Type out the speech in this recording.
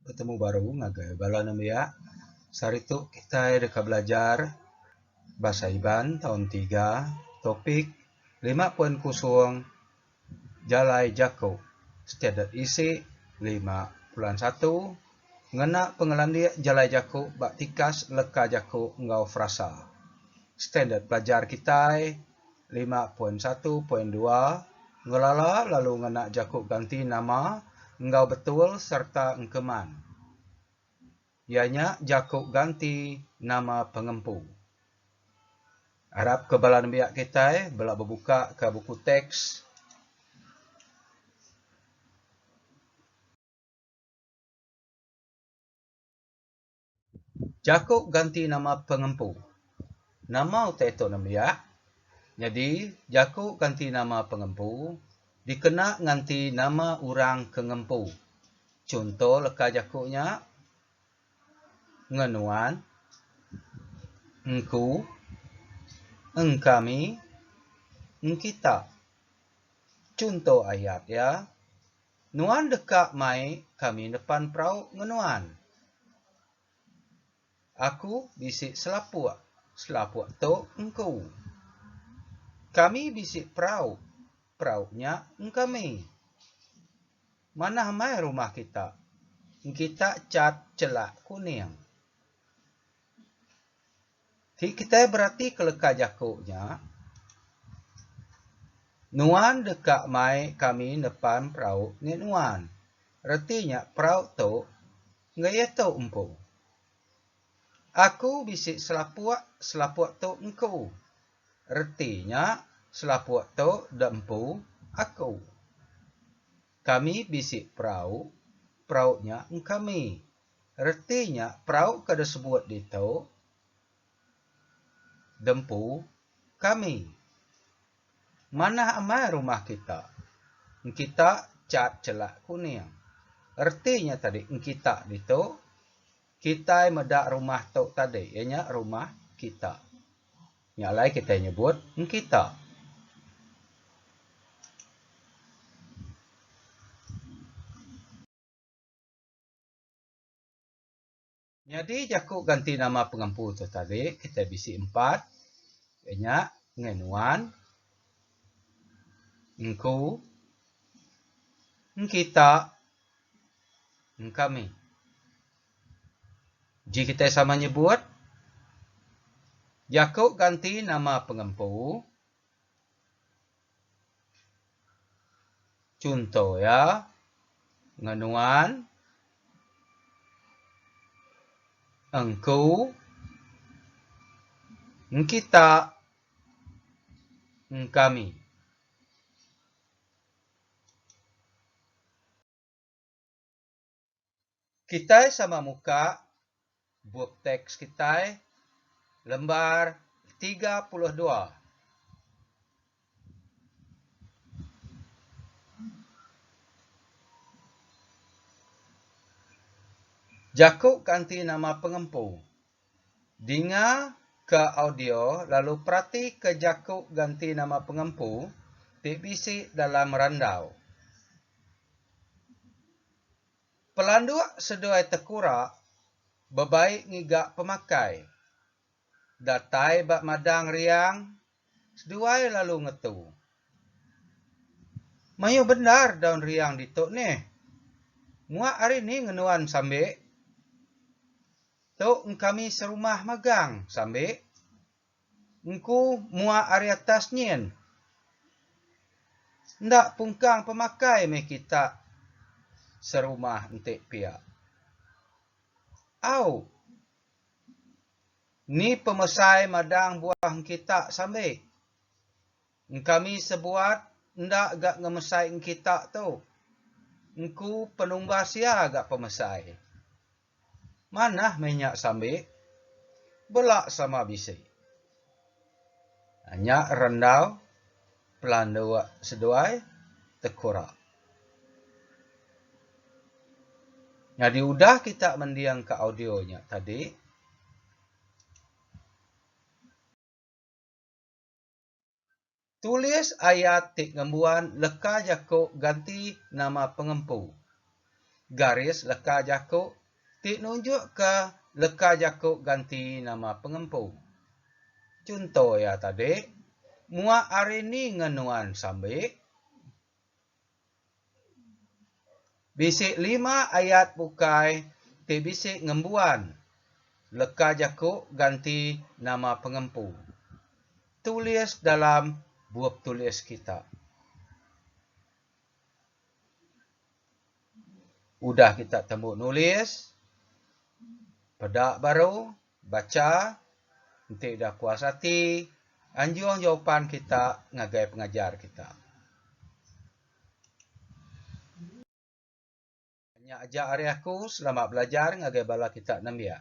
Betemu baru ngagai bala nembiak. Sehari tu kitai deka belajar Bahasa Iban taun tiga, topik lima poin kusung jalai jaku standard isi lima bulan satu ngena pengelandik jalai jaku ba tikas leka jaku enggau frasa. Standard pelajar kitai lima poin satu poin dua Ngelala lalu ngena jaku ganti nama enggau betul sereta engkeman iya nya jaku ganti nama pengempu. Arapka bala nembiak kitai bela bebukaka buku teks. Jaku ganti nama pengempu. Nama utai tu nembiak? Nyadi jaku ganti nama pengempu dikena nganti nama orang ke ngempu. Chunto leka jaku nya, Ngenuan, Engku, Engkami, Engkita. Chunto ayat iya. Nuan deka mai kami depan perau ngenuan. Aku bisi selapuk, selapuk tu engku. Kami bisi perau, perau nya engkami. Manah mai rumah kita, engkita chat chelak kuning. Ti kitai beratika leka jaku nya, Nuan deka mai kami nepan perau enggei nuan. Reti nya perau tu enggei iya tu empu. Aku bisi selapuk, selapuk tu engku. Reti nya selapuk tu da empu aku. Kami bisi perau, perau nya engkami. Reti nya perau ke disebut ditu Dempu Kami. Manah amai rumah kita. Engkita cat celak kuning. Reti nya tadi engkita ditu, kitai meda rumah tu tadi iya nya rumah kita. Nya alai kitai nyebut engkita. Nyadi jaku ganti nama pengempu tu tadi kitai bisi empat iya nya ngai nuan, engku, engkita, engkami. Ji kitai sama nyebut jaku ganti nama pengempu. Chunto iya enggau nuan engku engkita engkami. Kitai sama muka bup teks kitai lembar tiga puluh dua. Jaku kanti nama pengempu. Dinga ke audio lalu peratika jaku ganti nama pengempu ti bisi dalam randau. Pelanduk seduai tekura bebai ngiga pemakai. Datai ba madang riang seduai lalu ngetu. Mayuh bendar daun riang ditu nih. Muak ari ni ngenuan Sambi? Tu engkami serumah magang, Sambi. Engku mua ari atas nyin. Enda pungkang pemakai meh kita serumah enti pia. Au. Ni pemesai madang buah engkita sambi. Engkami sebuat enda ga ngemesai engkita tu. Engku penumbas iya ga pemesai. Manah meh nya sambi. Bela sama bisi. Nya rendau pelandu seduai tekura. Nyadi udah kita mending ka audio nya tadi. Tulis ayat ti ngembuan leka jaku ganti nama pengempu. Garis leka jaku ti nunjukka leka jaku ganti nama pengempu. Chunto iya tadi, Muak ari ni nge nuan sambi? Bisi lima ayat bukai ti bisi ngembuan leka jaku ganti nama pengempu tulis dalam bup tulis kita. Udah kita tembu nulis peda baru Bacha, enti udah puas ati, anjung jawapan kita ngagai pengajar kita. Nya aja ari aku, selamat belajar ngagai bala kita nembiak.